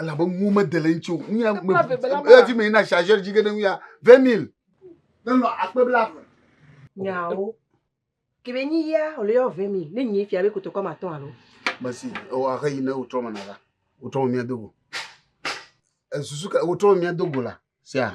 elabe nuwo mede le ŋuti o nu ya me efi mi na chargeur dzi ge ɖe nu ya vingt mille nenɔ akpe blaeve. nyawo kebe nyi ya wòle yɔ vingt mille ne nyi fia be kotokɔ ma tɔn alo. mesi ewɔ axe yi ne wotrɔ me na la wotrɔ me mia dogo esusu ka wotrɔ me mia dogo la sia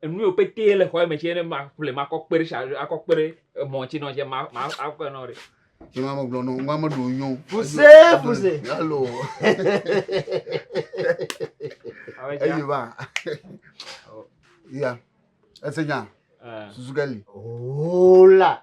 Enu yiwo pɛtɛ le xɔa me tse ne maƒle makɔ kpe ɖe tsa akɔ kpe ɖe emɔ tse nɔ tse ma ma akɔe nɔ ɖe. Nyɔnu ame gblɔ nɔ ŋgɔ ame ɖewo nyɔ o. Fuse fuse. Alo. Abe tse. Eyi va. Ya. Ese nya. Susu ke li. Hola.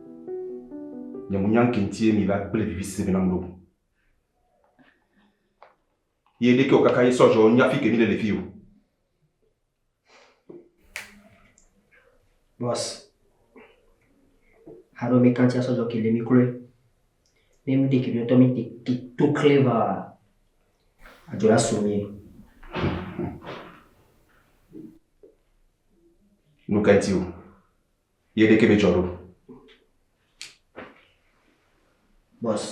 Nye mo nya ŋke ŋtie mi la kple vivi sebe na muɖo. Ye ɖeke o kaka ye sɔ zɔ nya fike mi le le fi o. Boss, haro mi kanti asɔ zɔ kele mi kloe. Ne mi de kele tɔ mi te ki to kle va. Ajola so mi. Nuke ŋti o. Ye ɖeke medzɔ ɖo. Bɔs.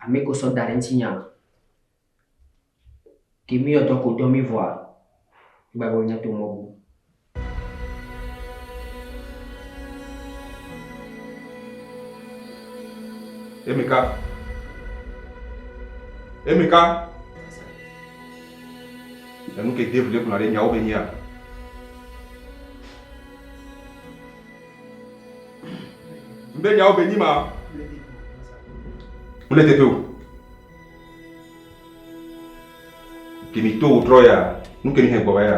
Ame ko sɔ da ɖe ŋutinya. Ke mi yɔtɔ ko dɔ mi vɔa, gbagbe nya to mɔ bu. Emika. Emika. Enu ke Dave le gblɔna ɖe nyawo me nyea, Be nyawo be nyi ma mele teƒe o. Ke mi to wòtrɔ ya, nu ke mi hɛn gbɔ va ya.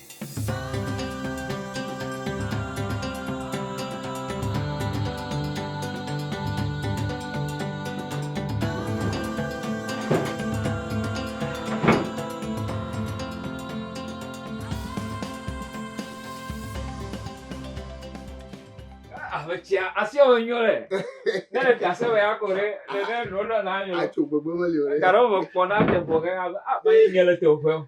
Ametia asi ɔwɔ nyɔ le. Ne le fiase wɔ ya ko ɖe ne ne nɔ nɔ na nyɔ. Atso gbogbo me le o ɖe. Garo me kpɔ na te bɔ ke ka a ba ye nyɔ le te o fɛ.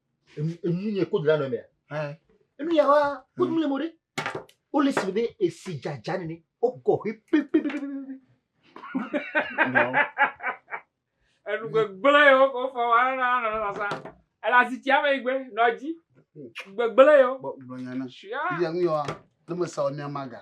Enyunye kodu la nɔ mea. Enuya wa kodu le mori. O le si be esi jaja ne o kɔ he pe pe pe pe pe. Enu gbegble yo ko fɔ wa na na na sa. Ela si tia me igbe nɔ dzi. Gbegble yo. Gbegble yana. Shia. Iya nuya wa. Ne me sa o mia maga.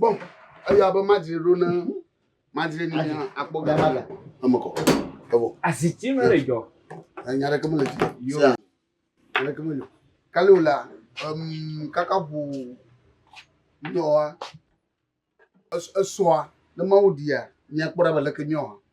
Bɔm eya be madzre ɖo ne madzre ni mia akpɔ ga ma ga. Eme kɔ. Evo. Aziti me le jɔ. Nya ɖeke me le jɔ. Yo. Nya ɖeke me jɔ. Kale o la, um, kaka ʋu nyɔa esɔa ne mawu dia mia kpɔ ɖa be leke nyɔa.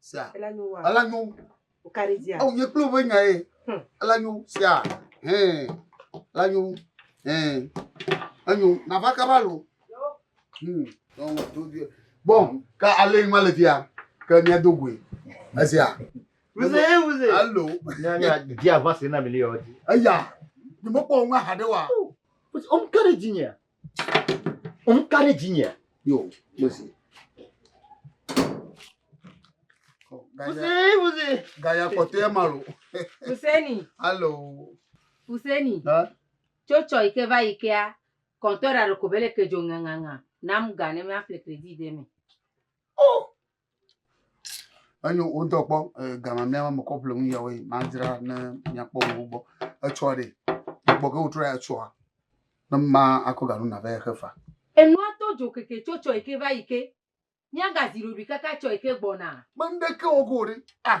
Sea. Ela nyo wa. Ela nyo. O ka ɖe dzia. Awo nye kple woƒe nya ye. Hmm. Ela nyo. Sea. Hɛn. Ela nyo. Hɛn. Enyo. Nava kaba lo. Hmm. Bom. Ka ale ma le fia. Ke mia do goe. Esia. Vous êtes, vous êtes. Allô. Dia va se na mele yodi. Aya. Ni mo ko nga hade wa. Om kare jinya. Ŋu ka ɖe dzinyea? Yo, Mose. Mose, Mose. Gaya kɔtɔe ma lo. Museni. Alo. Museni. Tso tsɔ yi ke va yi kea, kɔntɔ ɖa ɖeko bele ke dzo ŋaŋaŋa. Nam ga ne mía fle kredi de me. Oh, Enyo wodɔ kpɔ gama mía me kɔ ƒle nu yawo madzra ne miakpɔ wo gbɔ. Etsɔa ɖe gbɔ ke wotrɔ ya etsɔa ne ma akɔ ganu na vɛ xe fa. Enua to dzo keke tso tsɔ yi ke va yi ke. Mía gazi ɖoɖui kaka tsɔ yi ke gbɔna. Kpem ɖe ke wɔ ko ɖe ah.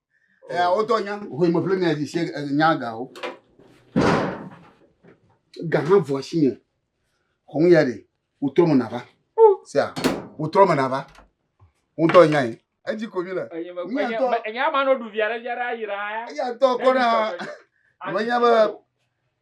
Eh, wotɔ nya hoe me ƒle mia dzi se eh, nya gawo. Ga hã vɔ asi nye. Xɔŋ ya ɖe wotrɔ me nava. Sia wotrɔ me nava. Wotɔ nya yi. Edzi ko mi le. Mia tɔ. Enya ma no ɖu via ɖe via ɖe ayira. Eya tɔ kɔ na. Ame nya be